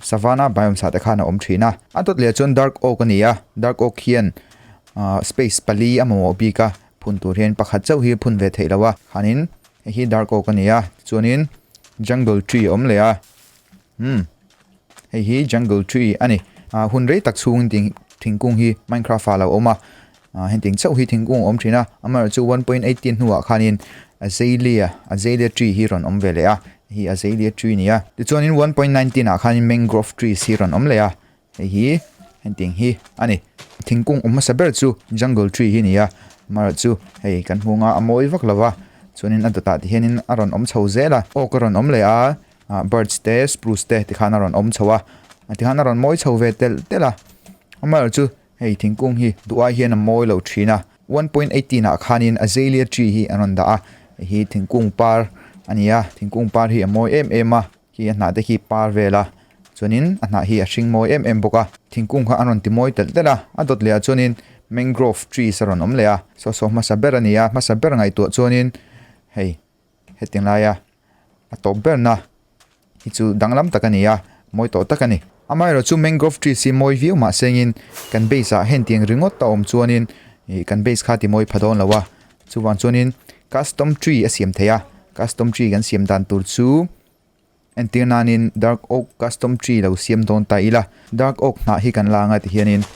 Savana biome sahte khan a awm thin a. A dawt leh chuan dark oak a ni a, dark oak hian aah space pali a mamawh bik a, phun tur hian pakhat chauh hi phun ve theih lo a, khanin hei hi dark oak a ni a, tichuanin jungle tree a awm leh a, umm hei hi jungle tree a ni, aah hun rei tak chhungin thingkung hi minecraft ah a lo awm a, A henteng chauh hi thingkung a awm thin a, amaherawh chu one point eight ten hnuah khanin Azalea, Azalea tree, hi rawn awm ve leh a, hei hi Azalea tree a ni a. Tichuanin one point nine ten ah khanin Mangrove trees hi rawn awm leh a, hei hi henteng hi a ni. Thingkung awm hmasa ber chu Jungle tree hi a ni a, amaherawh chu hei kan hmung a a mawi vak lo va, chuanin a dawtah tih hianin a rawn awm chho zel a, Oak a rawn awm leh a, Birch te, Spruce te tikhan a rawn awm chho a, tikhan a rawn mawi chho ve telh telh a, amaherawh chu Hei thingkung hi duhai hian a mawi lo thin a, one point eighteen ah khanin Azalea tree hi an rawn dah a, hei hi thingkung par a ni a, thingkung par hi a mawi em em a, khi a hnah te khi par vel a, chuanin a hnah hi a hring mawi em em bawk a, thingkung kha an rawn ti mawi telh telh a, a dawt leh ah chuanin Mangrove trees a rawn awm leh a, saw saw hmasa ber a ni a, hmasa ber ngaihtuah chuanin hei. Hetiang laia a tawp berna hi chu danglam tak a ni a, mawi tawh tak a ni. Amaherawh chu mangrove trees hi mawi viau mah sengin kan base ah hentiang ringawt a awm chuanin ih kan base kha timawi pha dawn lo a, chuvang chuanin custom tree a siam theih a, custom tree kan siam dan tur chu. Entir nanin Dark Oak Custom Tree lo siam dawn ta ila, Dark Oak hnah hi kan la anga ti hianin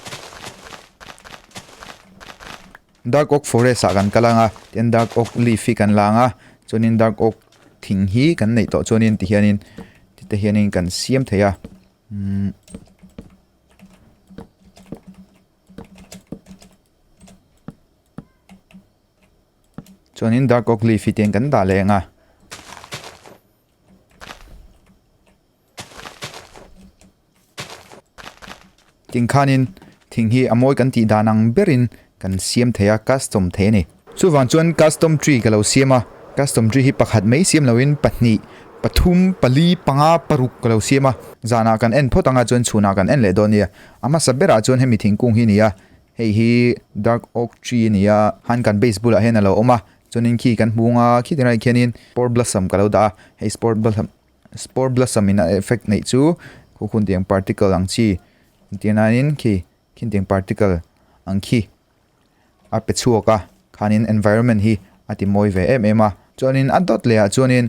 Dark Oak Forest ah kan kal anga tian Dark Oak Leaf hi kan la anga chuanin Dark Oak thing hi kan neih tawh chuanin ti hianin tite hianin kan siam thei a um, chuanin Dark Oak Leaf hi tian kan dah leh anga Tin khanin thing hi a mawi kan tih dan ang berin kan siam thei a, custom thei a ni. Chuvang chuan custom tree ka lo siam a, custom tree hi pakhat mai siam loin pahnih, pathum, pali, panga, paruk ka lo siam a. Zanah kan en phawt anga chuan chhunah kan en leh dawn nia. A hmasa berah chuan hemi thingkung hi a ni a, hei hi dark oak tree a ni a, han kan base bulah hian a lo awm a, Chuanin khi kan hmu nga khi ti rai khianin Spore Blossom ka lo dah a, hei Spore Blossom Spore Blossom in a effect neih chu khukhun tiang particle ang chi tia nain khi khin tiang particle ang khi a pe chhuak a khanin environment hi a ti mawi ve em em a. Chuanin a dot leh ah chuanin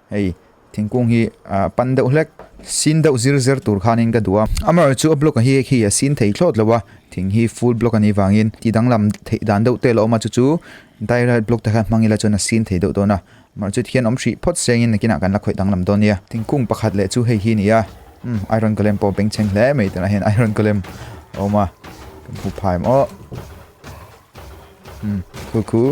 Hei thingkung hi ah pan deuh hlek sin deuh zir zir tur khanin ka duh a, amarawh chu a block a hi hek hi a sin thei thlawt lo a, thing hi full block a nih vangin ti danglam theih dan deuh te ala awm a, chu chu direct block te kha hmang ila chuan a sin thei deuh dawn a, amarawh chu tikhian awm hrih phawt se angin nakinah kan la khawih danglam dawn nia. Thingkung pakhat leh chu hei hi a ni a, umm iron golem pawh bengchheng hle mai tunah hian iron golem a awm a, kan hmu phai maw umm cool cool.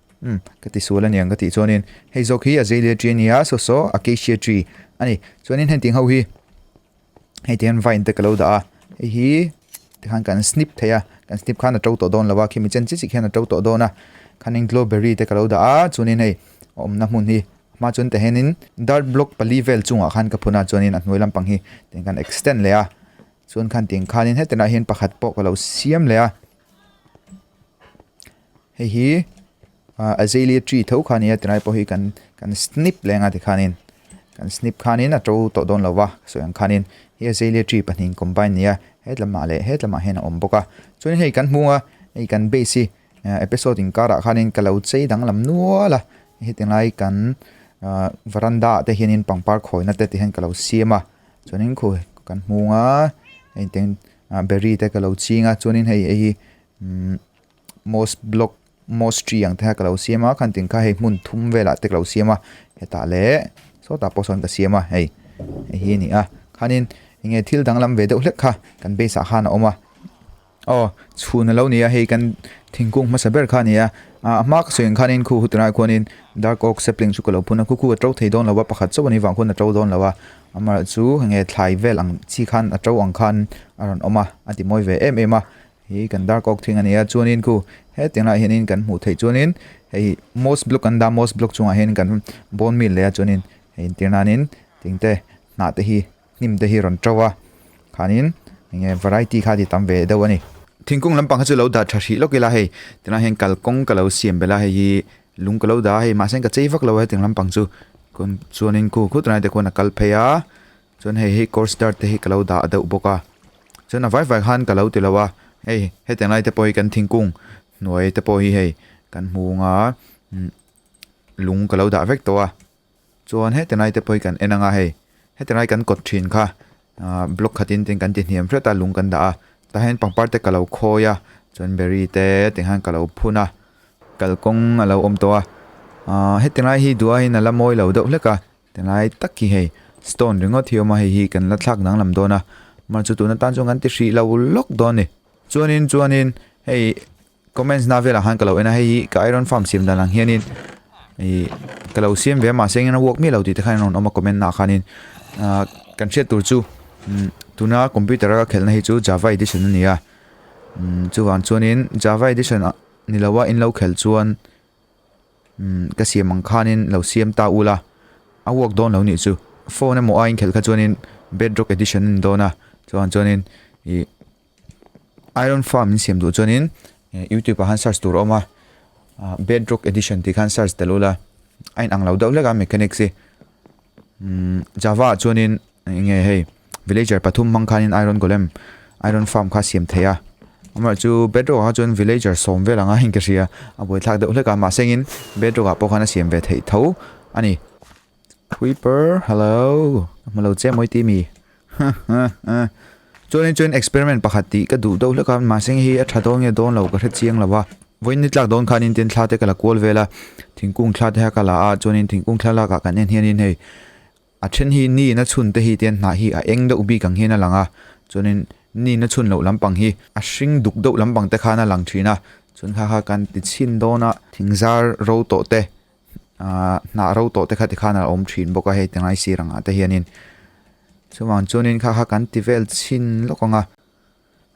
Umm, ka ti sual aniang ka tih chuanin, hei zawk hi Azalea tree ania, so so Acacia tree a ni. Chuanin hengtih ho hi, hei te hian vine te ka lo dah a, hei hi tikhan kan snip theih a, kan snip khan a to tawh dawn lova, khi mi chen chi chi khian a to tawh dawn a, khanin glowberry te ka lo dah a, chuanin hei a awmna hmun hi, hma chuan tah hianin dirt block pali vel chungah khan ka phun a, chuanin a hnuai lampang hi tiang kan extend leh a, chuan khan tiang khanin hetinah hian pakhat pawh ka lo siam leh a. Hei hi ah azalea tree tho kha nia tunai pawh hi kan kan snip leh anga tikhan in kan snip khan in a to tawh dawn lo va ka sawi ang khan in hi azalea tree pahnihin combine nia hetlamah leh hetlamah hian a awm bawk a chuan hei kan hmung a hei kan base hi ah episode in karah khan in ka lo chei danglam nual a heti lai kan ah varanda ah te hian in pangpar khawina te tih hian ka lo siam a chuan in khaw kan hmung a heng teng ah berry te ka lo ching a chuan in hei hi-- Umm moss block moss tree ang te kha ka lo siam a khan ting kha hei hmun thum vel ah te ka lo siam a hetah leh sawtah pawh sawn ka siam a hei hei hi a ni a khanin eng nge thil danglam ve deuh hlek kha kan base ah khan a awm a aw chhun a lo ni a hei kan thingkung hmasa ber kha a ni a ah a hma ka sawi ang khanin khu hutah ah khuanin dark oak sapling chu ka lo phun a khu khu a to thei dawn lo va pakhat chauh a ni vang khawn a to dawn lo va amaherawhchu enge thlai vel ang chi khan a to ang khan a rawn awm a a timawi ve em em a. Hi kan dar kawk thing a nia, chuanin khu hetiang lah hianin kan hmuh theih chuanin hei moss block kan dah a, moss block chungah hian kan bone meal leh a, chuanin hei intir nanin thing te hnah te hi hnim te hi rawn ṭo a, khanin eng nge variety kha ti tam ve deuh a ni. Thingkung lampang kha chu lo dah ṭha hrih lawk ila hei ti lai hian kalkawng ka lo siam belh a, hei hi lung ka lo dah a, hei mahse ka chei vak lo a hetiang lampang chu, chuanin khu khut raih te khuan a kal phei a. Chuan hei hei course start te hi ka lo dah deuh bawk a, chuan a vai vai khan ka lo ti lo a, hei hetiang lai te pawh hi kan thingkung hnuai te pawh hi hei kan hmu anga lung ka lo dah vek tawh a, chuan hetiang lai te pawh hi kan en anga hei hetiang lai kan kawt thin kha aah block khatin tin kan ti hniam hret a lung kan dah a, tah hian pangpar te ka lo khawi a, chuan berry te te khan ka lo phun a, kalkawng a lo awm tawh a, aah hetiang lai hi duain a la mawi lo deuh hlek a, Tilai tak hi hei stone ringawt hi a awm a, hei hi kan la thlak dang lam dawn a, man chu tuna tan chuan kan ti hrih lo lawk dawn ni. Chuanin chuanin hei comments na velah khan ka lo en a, hei hi ka iron farm siam dan ang hianin ih ka lo siam ve a, mahse engin a work miah lo tih te khan an rawn awm a comment naah khanin. Ahh kan hriat tur chu umm tuna computer a ka khelh na hi chu java edition a ni a, umm chuvang chuanin java edition ah ni lo a in lo khel chuan Umm, ka siam ang khanin lo siam ta ula, a work dawn lo nih chu. Phone emaw a inkhelh kha chuanin Bedrock Edition in dawn a, chuan chuanin ih Iron Farm in siam duh chuanin YouTube ah khan search tur a awm a, Bedrock Edition tih khan search tel ula, a inang lo deuh hlek a mechanics hi. Umm, Java ah chuanin. Enge hei villager pathum hmang khanin iron golem iron farm kha siam thei a. Amaherawh chu bedrock ah kha chuan villager sawm vel anga inke hria a buaithlak deuh hlek a mahse engin bedrock ah pawh khan a siam ve theih tho a ni. Creeper hello ka hmu lo che mawi ti mi chuan in chuan experiment pakhat tih ka duh deuh hlek a mahse eng hi a tha dawn nge dawn lo ka hrechiang lo a. Vawiin nitlak dawn khanin tin thla te ka la kual vel a thingkung thla te kha ka la a chuan in thingkung thlalak ah kan en hian in hei A then hi ni na chhun te hi te hnah hi a eng deuh bik ang hian a lang a, chuanin ni na chhun loh lampang hi a hring duk deuh lampang te khan a lang thin a, chuan kha kha kan ti chhin dawn a, thingzar ro tawh te, aah hnah ro tawh te kha ti khan a awm thin bawk a hei tangai sir ang ah te hianin, chuvang chuanin kha kha kan ti vel chhin lawk ang a,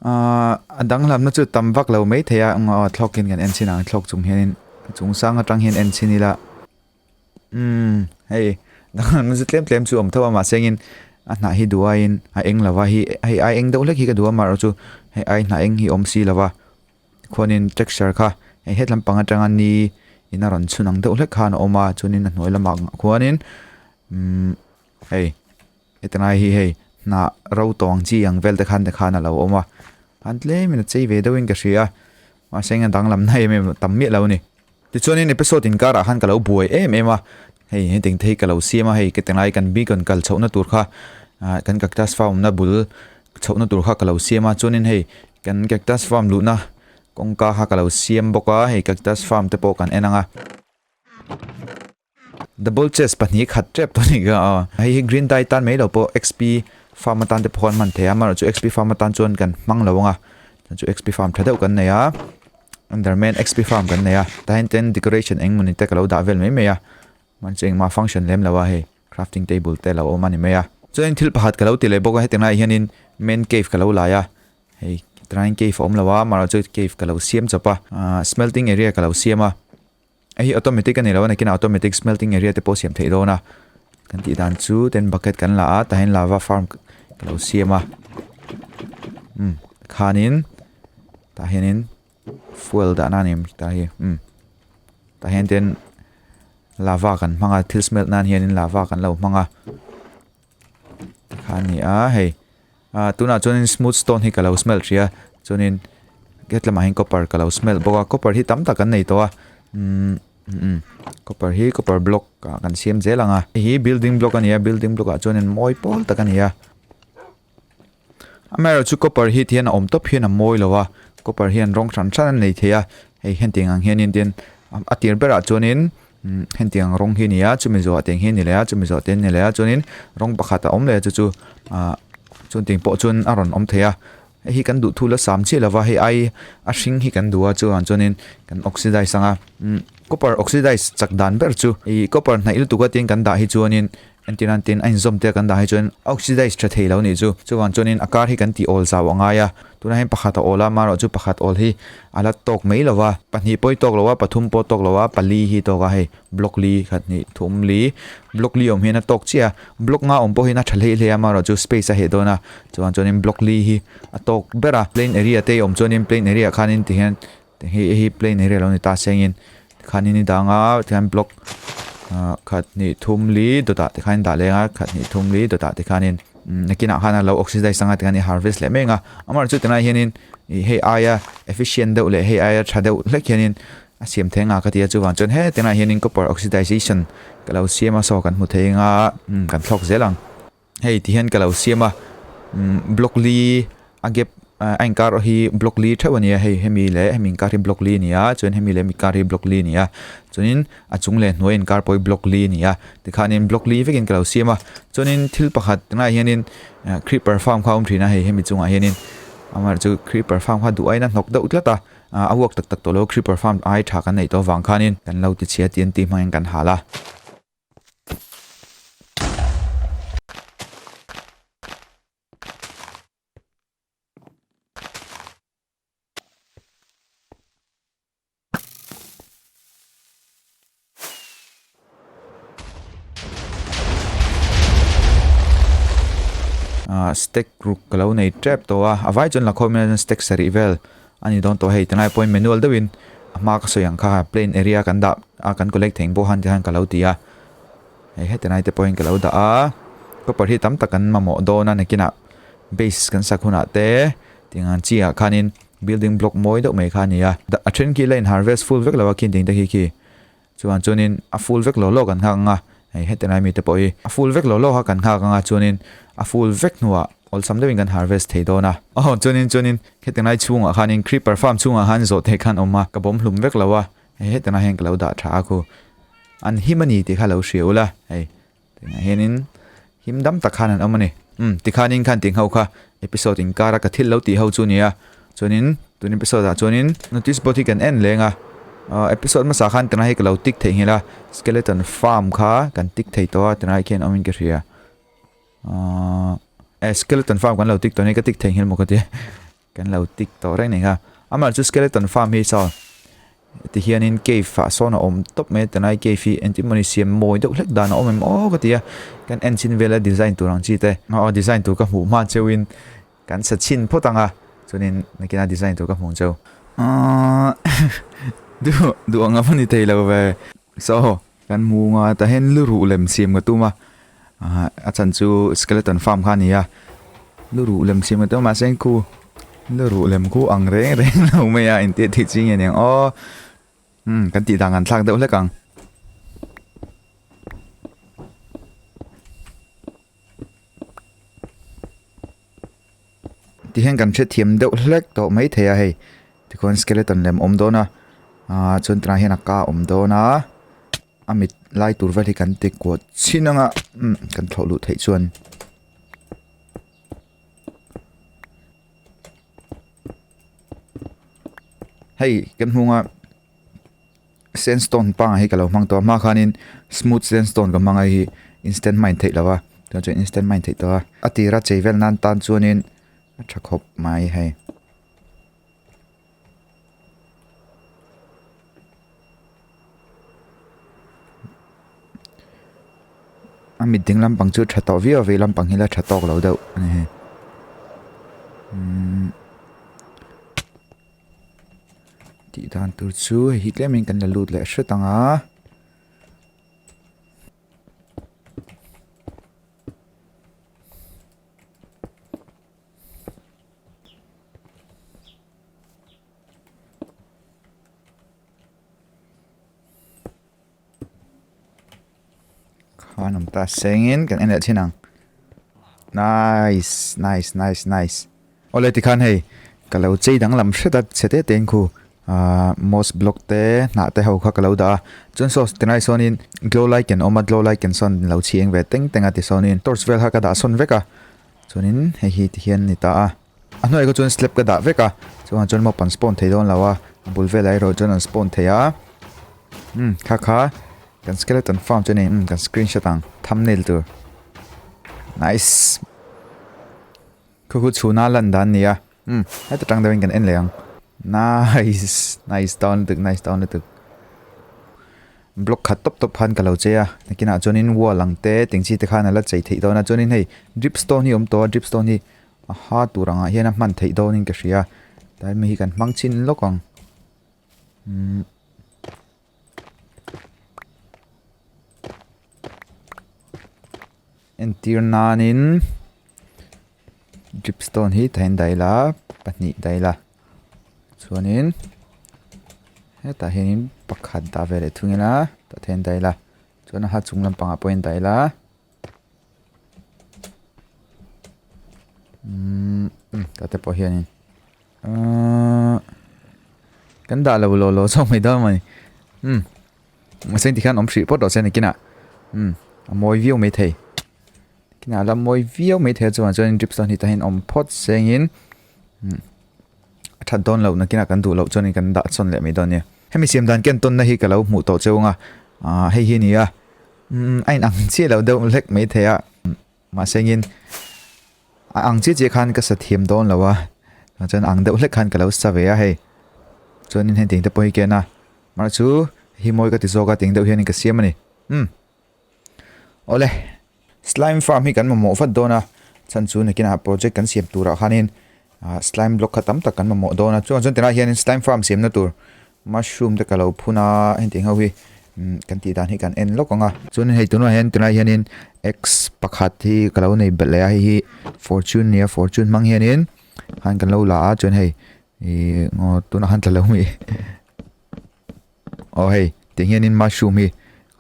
aah a danglam na chu tam vak lo mai thei a, aw thlawkin kan en chhin ang, thlawk chung hianin chungchang atang hian en chhin ila. Umm, hei, nang ze tlem tlem chu om tho a ma sengin a hna hi duain a eng lova hi hei ai eng deuh hlek hi ka duam a ro chu hei ai hna eng hi awm si lova khuanin texture kha hei hetlam pang atanga ni in a rawn chhun ang deuh hlek khan a awm a chuanin a hnuai lamah khuanin umm hei. Heti ngai hi hei hnah ro tawng chi ang vel te khan te khan a lo awm a, an tlem in a chei ve deuh in ka hria, mahse eng a danglamna em em tam miah lo ni. Tichuan in episode inkarah khan ka lo buai em em a, hei heti engte hi ka lo siam a, hei ka ti ngai kan beacon kal chhohna tur kha ah kan cactus farm na bul chhohna tur kha ka lo siam a, chuan in hei kan cactus farm luhna kawngka kha ka lo siam bawk a, hei cactus farm te pawh kan en ang a. Double chest pahnih khat tep tawh anih ka a. Hei hi green dye tan mai lo pawh xp farm atan te pawh kan hman thei a amaherawh chu xp farm atan chuan kan hmang lo ang a chuan chu xp farm tha deuh kan nei a enderman xp farm kan nei a tah hian tlem decoration eng mawni te ka lo dah vel mai mai a mahni chu engmah function lem lo a hei crafting table te a lo awm a ni mai a chuan in thil pakhat ka lo ti leh bawk a hetiang lai ah hian in main cave ka lo lai a hei tanahin cave a awm lo a amaherawh chu cave ka lo siam chawp a ahh smelting area ka lo siam a. Hei hi automatic a ni lo a nakin automatic smelting area te pawh siam theih dawn a kan tih dan chu ten bucket kan la a tahin lava farm ka lo siam a um khanin tah hianin fuel dahna a ni ang ta hi um tah hian ten lava kan hmang a thil smelt nan hianin lava kan lo hmang a Tikha a ni a hei. Ah, tunah chuanin smooth stone hi ka lo smell tih a. Chuanin hetlamah hian copper ka lo smell bawk a. Copper hi tam tak an nei tawh a. Umm umm copper hi copper block ah kan siam zel ang a. Hei hi building block a ni a. Building block ah chuan mawi pawl tak a ni a. A Mary chu copper hit hian a awm tawp hian a mawi lo a, copper hian rawng hran hran a nei thei a, hei hentiang ang hianin tin a tir berah chuanin hentiang ang rawng hi a ni a, chumi zawhah teng hi a ni leh a, chumi zawh te an ni leh a, chuanin rawng pakhat a awm leh a chu chu ah chuan tih ang pawh chuan a rawn awm thei a, hei hi kan duh thu la sam chiah lova hei ai a hring hi kan duh a chuvang chuanin kan oxidize ang a, copper oxidize chak dan ber chu hei copper hnaih lutuk atin kan dah hi chuanin Entir nan tin a inzawm tel kan dah hi chuan oxidise tha thei lo nih chu. Chuvang chuanin a kar hi kan tih awl zau a ngai a. Tunah hian pakhat a awl a, mah rawh chu pakhat awl hi a la tawk mai lo va. Pahnih pawh hi tawk lo a, pathum pawh tawk lo a, pali hi tawk a hei. Block li, khat hnih thum li, block li awm hian a tawk chiah a. Block nga awm pawh hian a tha hleih hle a, mah rawh chu space a heh dawn a. Chuvang chuanin block li hi a tawk ber a. Plain area te awm chuanin plain area khanin tihian. Hei hi plane hi rei lo a ni ta sengin tikhan in i dang a tikhan block ah khat hnih thum li dawtah tikhan in dah leng a khat hnih thum li dawtah tikhan in nakinah khan a lo oxidize anga tikhan i harvest leh mai ang a amaherawhchu chu tunah hian in ih hei aia efficient deuh leh hei aia tha deuh hlek hian in a siam theih ang a ka ti a chuvang chuan he tunah hian in copper oxidization ka lo siam a saw kan hmu thei ang a kan thlawk zel ang. hei ti hian ka lo siam a umm broccoli a gap a inkar erawh hi broccoli theuh a nia hei hemi leh hemi inkar hi broccoli a nia chuan hemi leh hemi inkar hi broccoli a nia chuanin a chung leh hnuai inkar pawh hi broccoli a nia tikhanin broccoli vekin ka lo siam a chuanin thil pakhat tunah hianin ah creeper farm kha a awm thin a hei hemi chungah hianin amah chu creeper farm kha duh aina hnawk deuh tlat a ah a vuak tak tak tawh lo a creeper farm ai tha kan neih tawh avang khanin kan lo tichhia TNT hmangin kan hal a. stack ruk ka lo nei tep tawh a a vai chuan lakhaw hian stack sarih vel. A ni dawn tawh hei ti ngai pawhin manual deuhin a hma ka sawi ang kha plain area kan dah a kan collect thei ang pawh han ti khan ka lo ti a hei heti lai te pawhin ka lo dah a copper hi tam tak kan mamawh dawn a nakinah base kan sak hunah te tiang ang chiah khanin building block mawi deuh mai kha a ni a a thenkilaiin harvest full vek lo a khin ding te khi khi. Chuan chuanin a ful vek lo lo kan nghak anga hei heti lai mite pawh hi a ful vek lo lo a kan nghak anga chuanin a ful vek hnuah awlsam deuhin kan harvest thei dawn a. Aw chuanin chuanin heti lai chhungah khanin creeper farm chhungah khan zawhte khan awm a ka bawm hlum vek lo a hei heti lai hian ka lo dah tha a khu an him a ni tih kha lo hria ula hei Tunah hianin him dam tak khan han awm a ni. Umm, tikhanin kha an tih ngho kha, episode inkara ka thil lo tih ho chu a ni a. Chuanin tun episode ah chuanin notice board hi kan en leng a. Aw, episode hmasa khan tunah hi ka lo tik theih nghilh a, Skeleton Farm kha kan tik thei tawh a, tunah hi khian awmin ka hria. Aw, eh, Skeleton Farm kan lo tik tawh a ni, ka tik thei nghilh maw ka ti. Kan lo tik tawh reng nia. Amah chu skeleton farm hi chuan ti hianin cave ah sawn a awm tawp mai a ti lai cave hi engtin mawni siam mawi deuh hlek dan a awm em aw ka ti a kan en chin vel a design tur ang chi te aw design tur ka hmuh hma cheu in kan sa chin phawt ang a chuanin nakin a design tur ka hmuh cheu aw duh duh ang a mawni thei lo ve so Kan hmu anga tahin luruh lem siam ka tuma a chan chu skeleton farm kha nia luruh lem siam ka tuma sen khu luruh lem khu ang reng reng lo mai a inti thei chi nge niang o um kan ti dan kan thlak deuh hlek ang Tihian kan hrethiam deuh hlek tawh mai thei a hei tikhawin skeleton lem awm dawn a aaa chuan tunah hian a ka awm dawn a a mit lai tur vel hi kan ti kuat chin ang a umm kan thlawh luh theih chuan hei kan hmung a. Sandstone panga hi ka lo hmang tawh a, hma khanin smooth sandstone ka hmang a, hei hi instant hmain theih lo a, tunah chuan instant hmain theih tawh a, a tira chei vel nan tan chuanin a tha khawp mai hei. A mit ding lampang chu tha tawh viau a, vei lampang hi la tha tawk lo deuh a ni hei. Tih dan tur chu hei hi tlem in kan la lut leh hret ang a. Khan ang ta sengin kan enel thin ang. Nice, nice, nice, nice. Ole ti khan hei. Ka lo chei dang lam hret a chete te khu. Uh, moss block te na te ho kha ka lo da. Chun so tenai sonin glow light ken oma glow light ken son lo chi eng ve teng teng a ti sonin torch vel ha ka da son vek a. Chunin hei hi ti hian ni ta a. A hnuaih erawh chuan slab ka dah vek a, chungah chuan mopa an spawn thei dawn lo a, a bul velah erawh chuan an spawn thei a, umm kha kha kan skeleton farm chu a ni, umm kan screen shot ang thumbnail tur nice khu khu chhun a lan dan nia umm heta tang deuhin kan en leh ang nice nice tawn lutuk nice tawn lutuk block khat tawp tawp khan ka lo che a nakinah chuanin wall ang te tengchi te khan a la chei theih dawn a chuanin hei drip stone hi awm tawh a drip stone hi A ha tur angah hian a hman theih dawnin ka hria. Tlai mi hi kan hmang chin lawk ang. Umm. Entir nanin dripstone hi tain daih la, pahnih daih la. Chuanin hetah hianin pakhat dah ve leh thung in a, tah theih a ni daih la. Chuan a ha chung lampangah pawhin daih la. ka te pawh hianin kan dah lo lo lo zawk mai dâwn mai um mahse engti khan awm hrih pawt lo se nikina um a mawi viau mai thei kina la mawi viau mai thei a chuan chuan drip sawm hi ta hian awm phawt sengin um A that dawn loh nakin a kan duh loh chuan in kan dah chawn leh mai dawn nia. Hemi siam dan ken tawnna hi ka lo hmuh tawh cheu anga aah hei hi a ni a, umm a inang chiah loh deuh hlek mai thei a, mahsengin a ang chiah chiah khan ka sa thiam dawn lo a, tah chuan a ang deuh hlek khan ka lo sa ve a hei. Chuanin heng ting te pawh hi ken a, marh chu hi mawi ka ti zawk a, teng deuh hianin ka siam a ni. Umm. Awle, slime farm hi kan mamawh vat dawn a, chhan chu nakinah project kan siam turah khanin ah slime block kha tam tak kan mamawh dawn a, chungah chuan tilai hian slime farm siamna tur mushroom te ka lo phun a, heti ho hi kan tih dan hi kan en lawk ang a. Chuanin hei tunah hian tilai hianin eggs pakhat hi ka lo nei belh leh a, hei hi fortune a nia, fortune hmang hianin han kan lo la a, chuan hei ih aw tunah han tla lo mi. Aw hei, ti hian in mushroom hi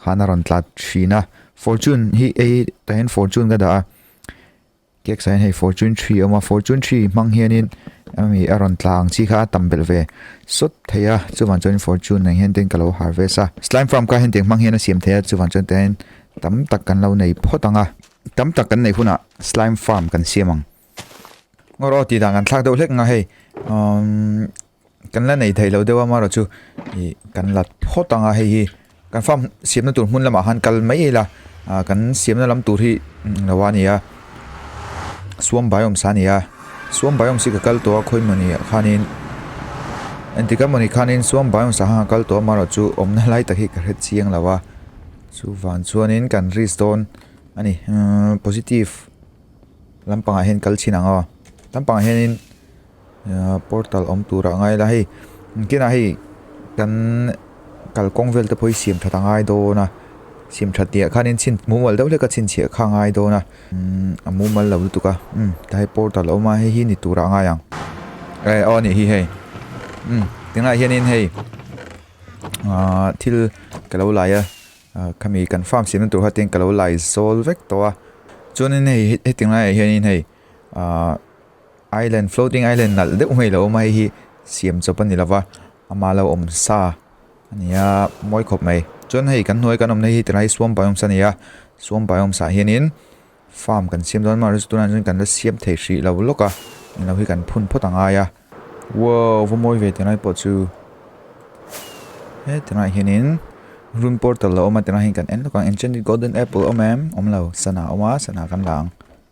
khan a rawn tlat thin a. Fortune hi a hi tah hian fortune ka dah a. Cake sah hian hei fortune three a awm a, fortune three hmang hian in em hi a rawn tla ang chi kha a tam belh ve sawt thei a. Chuvan chuan in fortune nang hian ten ka lo harvest a. Slime farm kha henteng hmang hian a siam thei a, chuvan chuan tah hian tam tak kan lo nei phawt ang a. Tam tak kan nei hunah slime farm kan siam ang. Ngaw rawh, tih dan kan thlak deuh hlek ang a hei. Umm kan la nei theihloh deuh a mara chu ih kan la phawt ang a hei hi kan farm siamna tur hmun lamah khan kal mai ila ah kan siamna lam tur hi englo a nia suam biomes a nia suam biomes hi ka kal tawh a khawi mawni ah khanin entika mawni khanin suam biomes ah khan ka kal tawh a mara chu awmna lai tak hi ka hre chiang lo a chu van chuanin kan risk dawn a ni umm positive lampangah hian kal chhin ang aw lampangah hianin-- portal awm tura ngai la hei ang kinah hei kan kalkawng vel te pawh hi siam that a ngai dawn a siam that tih ah khanin chhin mumal deuh hlek a chhinchhiah kha a ngai dawn a umm a mumal lo lutuk a umm tilai ah portal a awm a heihi ni tura a ngai ang eh aw nih hi hei umm tunah hianin hei aaa thil ka lo laih a ah khami kan farm siamna tur khatin ka lo laizawl vek tawh a chuanin hei hetiang laiah hianin hei-- uh, island floating island nal deuh mai lo mai hi siam chawp ani lova ama lo om sa ania moi khop mai chuan hei kan hnuai kan awm nei hi tilai suam biomes ania suam biomes ah hianin farm kan siam dawn mah restaurant ah chuan kan la siam thei hrih lo lawk a eng lo hi kan phun phawt a ngai a wow va mawi ve tilai pawh chu he tilai hianin room portal lo awm a tilai hian kan en lawk ang enchanted golden apple awm em awm lo sana awm a sana kan la ang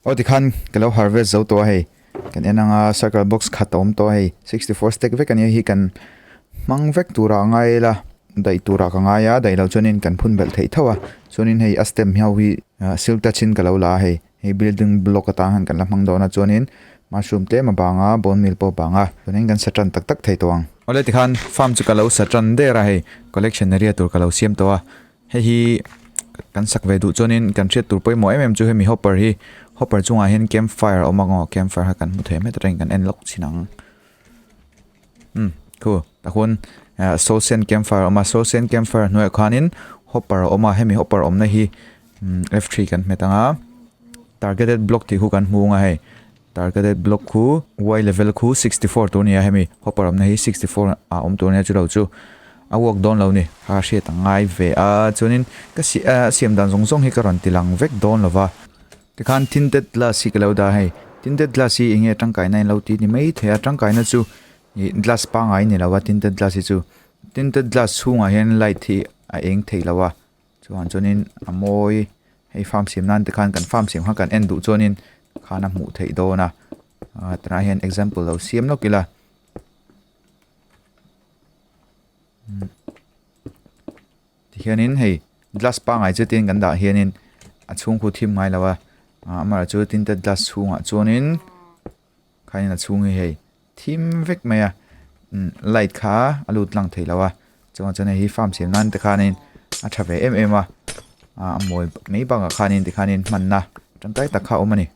Aw tikhan ka lo harvest zo tawh a hei, kan en anga circle box khat a awm tawh a hei, sixty four stack vek a nia hei kan hmang vek turah a ngai la, daih turah ka ngai a, daih lo chuanin kan phun belh theih thauh a, chuanin hei a stem ho hi silk touch in ka lo la a hei, hei building block atang hian kan la hmang dawn a, chuanin mushroom tlem a bang a, bone meal pawh a bang a, tun in kan sa tan tak tak thei tawh ang. Awle tikhan farm chu ka lo sa tan der a hei, collection a riat tur ka lo siam tawh a. Hei hi kan sak ve duh chuan in kan hriat tur pawimawh em em chu hemi hopper hi hopper chung ah hian camp fire a awm a ngaw camp fire khan kan hmu thei hmet reng kan en lawk chin ang umm khu ta hun eh, soul sand camp fire a awm a soul sand camp fire hnuai ah khan in hopper a awm a hemi hopper awmna hi umm f3 kan hmet ang a targeted block tih khu kan hmu ang a hei Targeted block khu, Y level khu sixty four tur nia hemi hopper awmna hi sixty four ah awm tur nia chu lo chu a work dawn lo ni. Kha hriat ang ngai ve a, chuanin ka si a siam dan zawng zawng hi ka rawn ti lang vek dawn lo va. Tikhan tinted glass hi ka lo dah hei, tinted glass hi enge tangkaina in lo ti ni mai thei a, tangkaina chu ih glass pangai ni lo va tinted glass hi chu, tinted glass chhungah hian light hi a eng theih lo a, Chuan chuanin a mawi hei farm siam nan te khan kan farm siam khan kan en duh chuanin khan a hmuh theih dawn a ah tunah hian example lo siam lawk ila umm tikhianin hei glass pangngai che tiin kan dah hianin a chhungkut thim ngailo a ah amaherawhchu tin te glass chhungah chuanin-- Kha in a chhung hi hei thim vek mai a light kha a lut lang thei lo a chungah chuan hei hi farm siam nan te khan in a tha ve em em a a mawi mai bang ah khan in ti khan in hman na tangkai tak kha a awm a ni.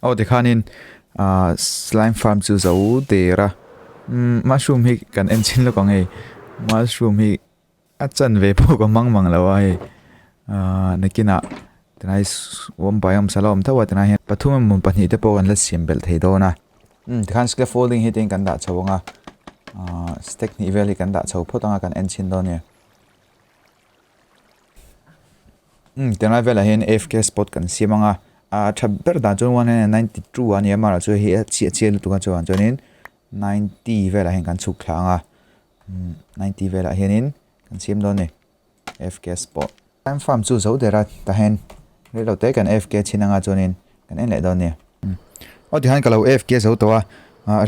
Aw ti khan in ah slime farm chu zo der a mushroom hi kan en chin lawk ang hei mushroom hi A chan ve pawh ka hmang mang lo a hei ahh nakinah tunai awm pahin awmsa la awm tho a tunai hian pathum emaw pahnih te pawh kan la siam belh thei dawn a umm tikhan scaffolding hi tein kan dah chho ang a ahh step hnih vel hi kan dah chho phawt ang a kan en chhin dawn a nia umm tunlai velah hian afk spot kan siam ang a a tha ber dan chuan one hundred and ninety two a ni a mahla chu hei a chhia lutuk a chuan chuanin ninety velah hian kan chhuk thla ang a. Ninety velah hianin kan siam dawn e AFK spot. Time farm chu zo dera tahin rilh lo te kan AFK chhin anga chuanin kan en leh dawn nia. Aw tihan ka lo AFK zo tawh a,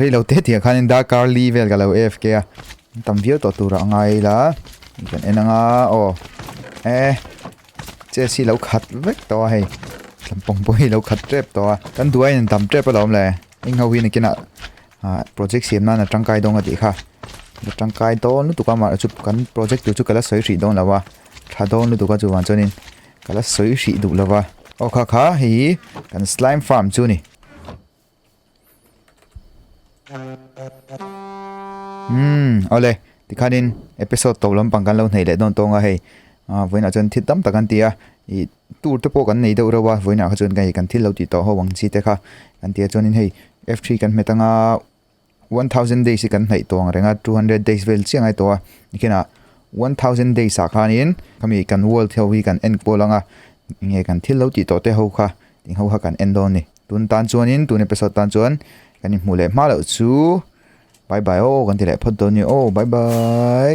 rilh lo te tih ah khanin dark early vel ka lo AFK a, an tam viau tawh turah a ngai ila kan en anga aw e chess hi lo khat vek tawh a hei tlampong pawh hi lo khat tep tawh a kan duai in an tam tep alawm le engho hi nakinah ah project siam nana tangkai dawn a tih kha a tangkai dawn lutuk a mahla chu kan project tur chu ka la sawi hrih dawn lo va tha dawn lutuk a chu vang chuan in ka la sawi hrih duh lo va aw kha kha hei hi kan slime farm chu a ni umm aw le tikhan in episode to lampang kan lo hneih leh dawn tawng a hei ah vawiinah chuan thil tam tak an ti a ih-- Tur te pawh kan nei deuh reuh a, vawiinah kha chuan hei kan thil lo tih tawh ho ang chi te kha kan ti a, chuanin hei F three kan hmet anga one thousand days hi kan hnaih tawh ang reng a, two hundred days vel chiang ai tawh a, nikhenah one thousand days ah khanin khami kan world ho hi kan enkawl anga enge kan thil lo tih tawh te ho kha eng ho kha kan en dawn a ni. Tun tan chuanin tun episode tan chuan kan inhmuh leh hma loh chu bye bye aw kan ti leh phawt dawn a ni aw bye bye.